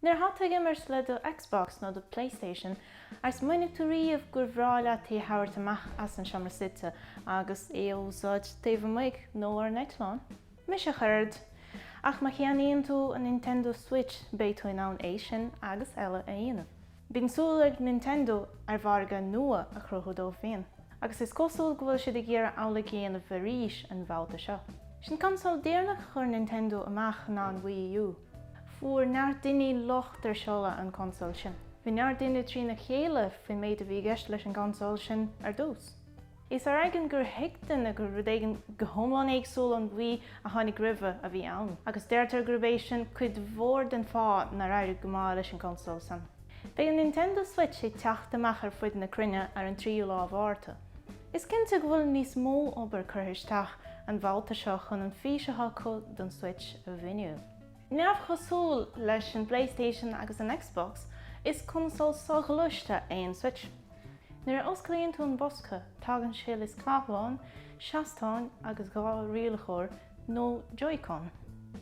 Nuair atá tú ag imirt le do Xbox nó do Playstation, ar smaoinigh tú riamh gur bhreá leat é a thabhairt amach as an seomra suite agus é a úsáid taobh amuigh nó ar an eitleán? Mise ach oiread! Ach má cheannaíonn tú an Nintendo Switch beidh tú in ann é sin agus eile a dhéanamh. Bíonn súil ag Nintendo le margadh nua a chruthú dóibh féin, agus is cosúil go bhfuil siad ag iarraidh amhlaidh a dhéanamh arís an bhabhta seo. Sin consól deireanach a chuir Nintendo amach ná an Wii U. Fuair neart daoine locht ar seoladh an chonsóil sin. Bhí neart daoine trína chéile faoin méid a bhí i gceist leis an gconsól sin ar dtús. Is ar éigean gur thuig daoine gur rud éigin go hiomlán éagsúil ón Wii a tháinig roimhe a bhí ann, agus deirtear gurb é sin cuid mhór den fáth nár éirigh go maith leis an gconsól san. Beidh an Nintendo Switch ag teacht amach ar fuid na cruinne ar an 3ú lá Mhárta. Is cinnte go bhfuil níos mó obair curtha isteach an bhabhta seo chun an fís atá acu don Switch a mhíniú. Neamhchosúil leis an Playstation agus an Xbox, is consól soghluaiste é an Switch. Nuair a osclaíonn tú an bosca, tagann sé le scáthlán, seastán agus dhá rialaitheoir nó Joy-Con.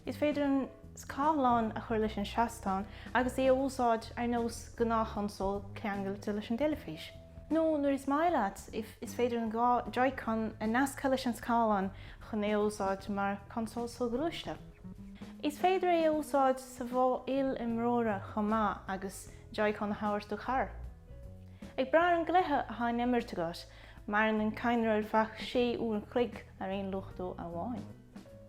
Is féidir an scáthlán a chur leis an seastán agus é a úsáid ar nós gnáthchonsól ceangailte leis an dteilifís. Nó, nuair is maith leat, is féidir an dhá Joy-Con a nascadh leis an scáthlán chun é a úsáid mar chonsól soghluaiste. Is féidir é a úsáid sa mhodh il-imreora chomh maith agus Joy-Con a thabhairt do chara. Ag brath ar an gcluiche atá in imirt agat, maireann an cadhnra ar feadh 6 uair an chloig ar aon luchtú amháin.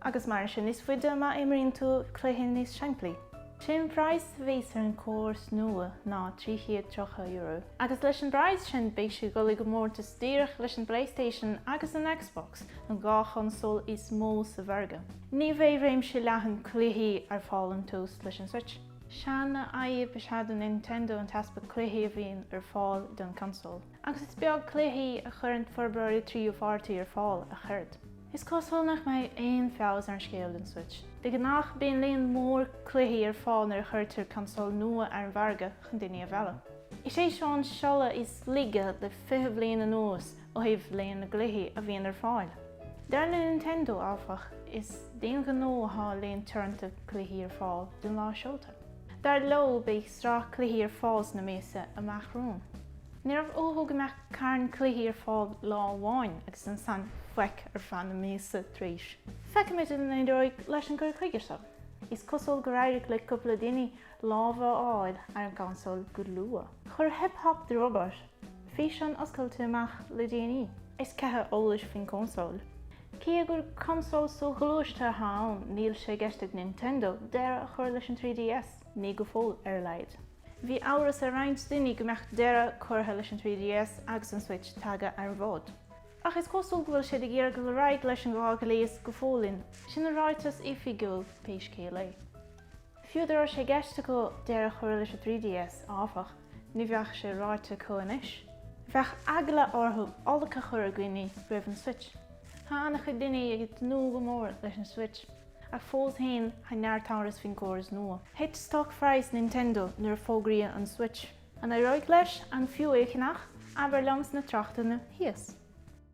Agus maireann sé níos faide má imríonn tú cluichí níos simplí. Sé an bpraghas a bheas ar an córas nua ná €330, agus leis an bpraghas sin beidh sé ag dul i gcomórtas díreach leis an Playstation agus an Xbox, an dhá chonsól is mó sa mhargadh. Ní bheidh réimse leathan cluichí ar fáil ón tús leis an Switch. Seanfhadhb is ea do Nintendo an t-easpa cluichí a bhíonn ar fáil don consól, agus is beag cluichí a chuireann forbróirí tríú pháirtí ar fáil ach oiread. Is cosúil nach mbeidh aon feabhas ar an scéal don Switch. De ghnách bíonn líon mór cluichí ar fáil nuair a chuirtear consól nua ar an mhargadh chun daoine a mhealladh. Is é seo an seoladh is laige le 20 bliain anuas ó thaobh líon na gcluichí a bhíonn ar fáil. Dar le Nintendo, áfach, is d'aon ghnó athá líon teoranta cluichí ar fáil don lá seolta. Dar leo, beidh sraith cluichí ar fáil sna míosa amach romhainn. Ní raibh uathu go mbeadh carn cluichí ar fáil lá amháin agus ansan faic ar feadh na míosa tar éis. Feicfimid an éireoidh leis an gcur chuige seo. Is cosúil gur éirigh le cúpla daoine lámh a fháil ar an gconsól go luath. Chuir Hip Hop The Robot Físeán oscailte amach le déanaí. Is cith eolais faoin gconsól. Cé gur consól soghluaiste atá ann, níl sé i gceist ag Nintendo deireadh a chur leis an 3DS, ní go fóill ar a laghad. Bhí amhras ar roinnt daoine go mbeadh deireadh curtha leis an 3DS agus an Switch tagtha ar an bhfód, ach is cosúil go bhfuil siad ag iarraidh dul ar aghaidh leis an dhá ghléas go fóill, sin an ráiteas oifigiúil pé scéal é. Fiú dá raibh sé i gceist acu deireadh a chur leis an 3DS, áfach, ní bheadh sé ráite acu anois. Bheadh eagla orthu olc a chur ar dhaoine roimh an Switch. Tá an-chuid daoine ag tnúth go mór leis an Switch, ach fós féin tá neart amhras faoin gcóras nua. Thit stocphraghas Nintendo nuair a fógraíodh an Switch. An éireoidh leis an fiú é a cheannach? Abair liom sna tráchtanna thíos.